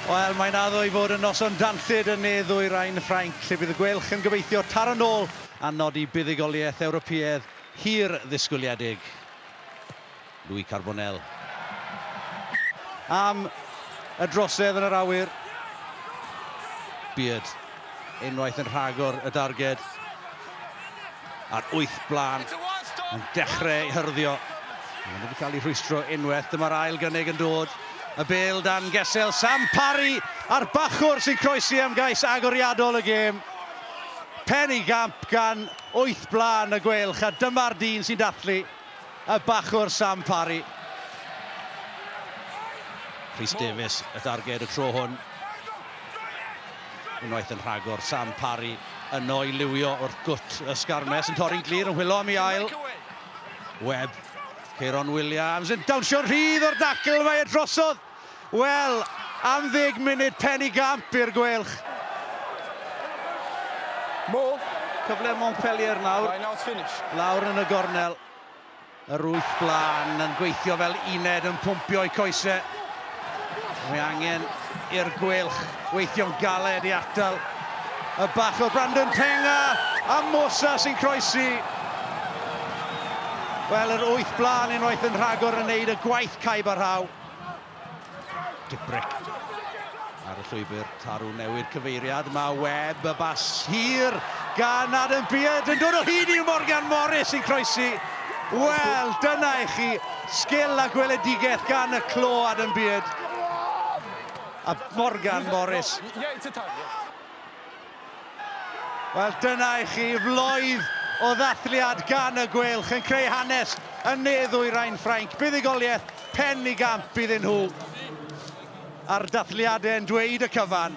Wel, mae'n addo i fod yn noson danllyd yn ne ddwyrain Ffrainc, lle bydd y Guelch yn gobeithio taro nôl a nodi buddugoliaeth Ewropeaidd hir ddisgwyliedig. Louis Carbonell am y drosedd yn yr awyr. Beard unwaith yn rhagor y darged. A'r wyth blaen yn dechrau ei hyrddio. Mae'n wedi cael ei rhwystro unwaith. Dyma'r ail gynnig yn dod. Y bel dan gesel Sam Parry a'r bachwr sy'n croesi am gais agoriadol y gêm. Pen i gamp gan wyth blaen y Gweilch a dyma'r dyn sy'n dathlu. Y bachwr Sam Parry. Rhys Davies y darged y tro hwn. Unwaith yn rhagor, Sam Parry yno i liwio wrth gwt y Sgarmes yn torri'n glir yn hwylo am i ail. Webb, Ceiron Williams yn dawnsio'n rhydd o'r dacl, mae e drosodd. Wel, am ddeg munud pen i gamp i'r Gweilch. Mo. Cyfle Montpellier nawr. Lawr yn y gornel. Yr wyth blaen yn gweithio fel uned yn pwmpio i coesau. Mae angen i'r Gweilch weithio'n galed i atal y bach o Brandon Tenga a Mosa sy'n croesi. Wel, yr wyth blaen unwaith yn rhagor yn neud y gwaith caib a rhaw. Dubrick ar y llwybr tarw newid cyfeiriad. Mae web y bas hir gan Adam Beard yn dod o hyd i Morgan Morris yn croesi. Wel, dyna i chi sgil a gweledigaeth gan y clo Adam Beard a Morgan Morris. Wel, dyna i chi floedd o ddathliad gan y Gweilch yn creu hanes yn ne ddwyrain Ffrainc. Buddugoliaeth pen i gamp iddyn nhw a'r dathliadau yn dweud y cyfan.